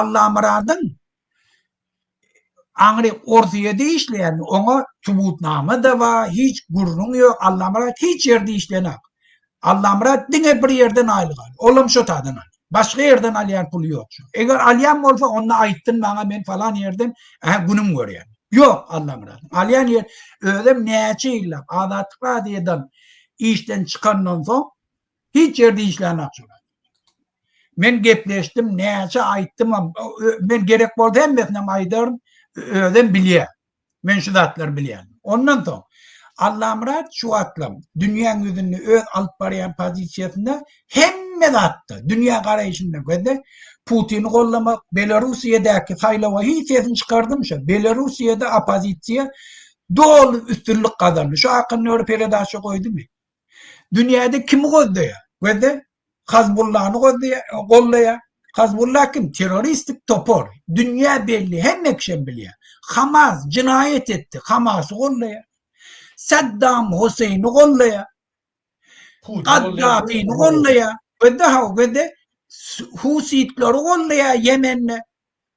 Allamyradyň aňry Orsyýede işleýänini, oňa subutnama-da bar, hiç gürrüň ýok, Allamyrat hiç ýerde işleýänak. Allamyrat diňe bir ýerden aýlyk alýar, olam şo taýdan alýar. Başga ýerden alýan puly ýok şu. Eger alýan bolsa, onda aýtsyn maňa, men falan ýerden ähä günüm görýän. Ýok Allamyradyň. Alýan ýer, özem näçe ýyllap Azatlyk radiodan işden çykandan soň, Hiç ýerde işlänok şular. Men gepleşdim, näçe aýtdymam, men gerek bolsa hemmesinem aýdaryn, özem bilýär. Men şu zatlary bilýän. Ondan soň Allamyrat şu wagtlam dünýäň ýüzünde öz alyp barýan pozisiýasynda hemme zatda, dünýä garaýşynda gözde Putini gollamak, Belarusiýadäki saýlawa hiç sesini çykardym şu. Belarusiýada oppozisiýa doly üstünlik gazandy. Şu akynda bir peredaça goýdumy? Dünýäde kimi goldaýar? Gözde Hazbullany goldaýar. Hazbulla kim? Terroristik topar. Dünýä belli, hemme kişem bilýär. Hamas jinaýat etdi, Hamasy goldaýar. Saddam Huseýni goldaýar. Gaddafini goldaýar. Gözde haw, gözde Husitleri goldaýar Ýemende.